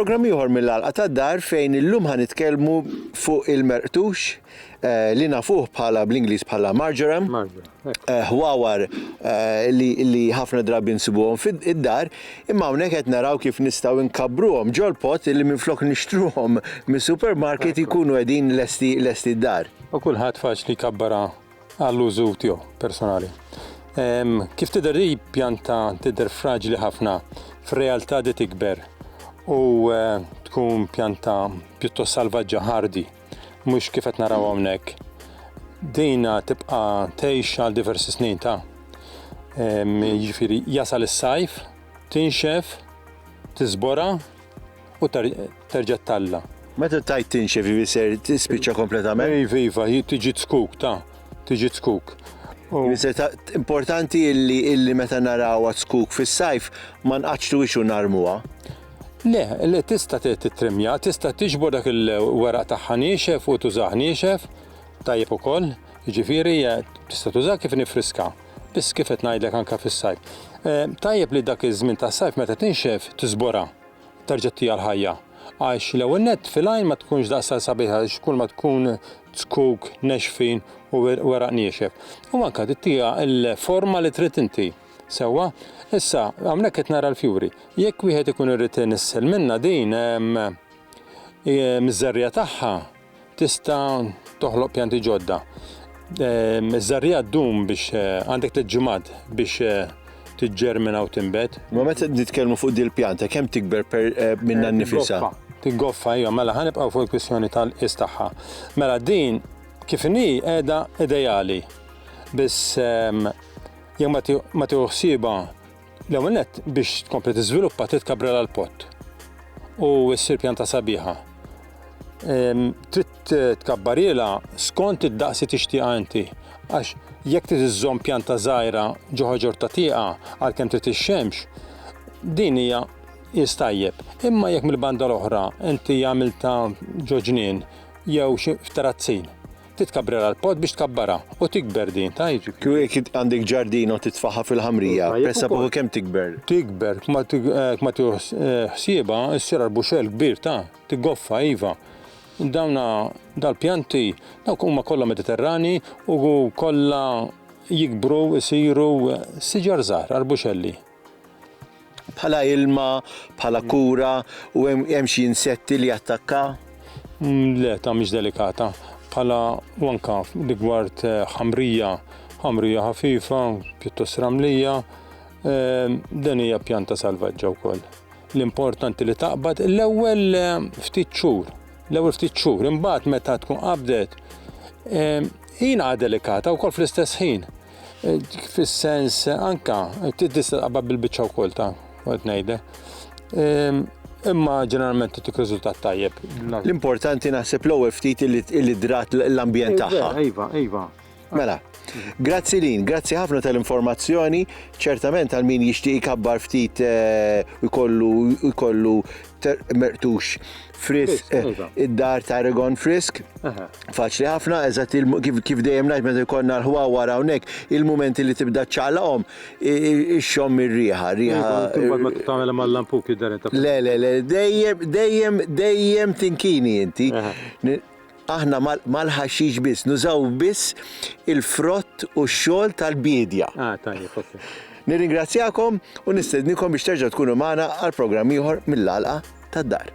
Programm ieħor mill-għalqa tad-dar fejn illum ħa nitkellmu fuq il-merqtux li nafuh bħala bl-Ingliż bħala marjoram, ħwawar li ħafna drabi nsibuhom fid-dar, imma hawnhekk qed naraw kif nistgħu nkabbruhom ġol-pot li minflok nixtruhom mis-supermarket ikunu qegħdin lesti d-dar. U kulħadd faċli jkabbarha għall-użu tiegħu personali. Kif tidher hi pjanta tidher fraġli ħafna, fir-realtà di tikber u tkun pjanta pjuttost salvaġġa ħardi. mhux kif qed naraw hawnhekk. Dina tibqa' tgħix għal diversi snin ta' jiġifieri jasal is-sajf, tinxef, tiżbora u terġa' talla. Meta tajt tinxef jiġifieri ser tispiċċa kompletament? Iva, iva, tiġi tskuk ta' tiġi tskuk. Jiġifieri importanti illi meta narawha tskuk fis-sajf ma nqaċċtuhiex u narmuha. Le, le, tista' tittrimmja, tista' tiġbor dak il-weraq tagħha niexef u tużah niexef, tajjeb ukoll, jiġifieri tista' tużah kif inhi friska, biss kif qed ngħidlek anke fis-sajf. Tajjeb li dak iż-żmien tas-sajf meta tinxef tiżborha, terġa' ttiha l-ħajja, għax l-ewwel nett fil-għajn ma tkunx daqshekk sabiħa għax kulma tkun zkuk nexfin u weraq niexef, u anke tittiha l-forma li trid inti. Sewwa, issa, hawnhekk qed nara l-fjuri. Jekk wieħed ikun irid inissel minnha din, miż-żerriegħa tagħha tista' toħloq pjanti ġodda. Iż-żerriegħa ddum biex għandek tliet ġimgħat biex tiġġermina u tinbet. Ma meta nitkellmu fuq din il-pjanta, kemm tikber minnha nnifisha? Tiggoffa, ejja, mela ħa nibqgħu fuq il-kwistjoni tal-qies tagħha. Mela din kif inhi qiegħda ideali, biss Jekk ma ti, ma tieħu ħsiebha l-ewwel nett biex tkompli tiżviluppa trid kabrilha l-pott u ssir pjanta sabiħa. Ehm, trid tkabbarilha skont id-daqs li tixtieqha inti. Għax jekk trid iżżomm pjanta żgħira ġo ħaġor ta' tieqa għalkemm trid ix-xemx, din hija qis tajjeb. Imma jekk mill-banda l-oħra inti għamiltha ġo ġnien jew xi f'terazzin, Titkabbrerha l-pott biex tkabbarha u tikber din, ta' jiġifieri. Kieku jekk għandek ġardin u titfagħha fil-ħamrija, pressa fuqha kemm tikber? Tikber, kma hekk ma tieħu ħsiebha ssir arbuxell kbir, ta', tiggoffa, iva. Dawna, dal-pjanti, dawk huma kollha Mediterranji u kollha jikbru, isiru siġar żgħar, arbuxelli. Bħala ilma, bħala kura u hemm hemm xi insetti li jattakka? Mm, Le, ta' mhix delikata. Bħala u anka rigward eh, ħamrija, ħamrija ħafifa, pjuttost ramlija, eh, dan hija pjanta salvaġġa wkoll. L-importanti li taqbad l-ewwel eh, ftit xhur, l-ewwel ftit xhur, imbagħad meta tkun qabdet, eh, jina delikata wkoll fl-istess ħin. fis-sens anka tista' taqbad bil-biċċa wkoll ta' qed ngħidlek. Ehm, imma ġeneralment titik riżultat tajjeb. L-importanti naħseb l-ewwel ftit li drat l-ambjent eh, tagħha. Iva, iva. Mela, grazzi lin, grazzi ħafna tal-informazzjoni, ċertament għal min jixtieq ikabbar ftit eh, ikollu ikollu mertux Frisk, eh, iva. id-dar ta' Regon Frisk. Faċli ħafna, eżatt kif dejjem ngħid meta jkollna l-ħwa wara hawnhekk, il-mumenti li tibda ċċaqlaqhom ix-xom ir-riħa, riħa. Imbagħad ma tagħmel mal-lampuk jidher Le, le, le, dejjem, dejjem, dejjem tinkini inti. Aħna mal-ħaxix biss, nużaw biss il-frott u x-xogħol tal-biedja. Ah, tajjeb, ok. Nirringrazzjakom u nistednikom biex terġgħu tkunu magħna għal programm ieħor mill-għalqa tad-dar.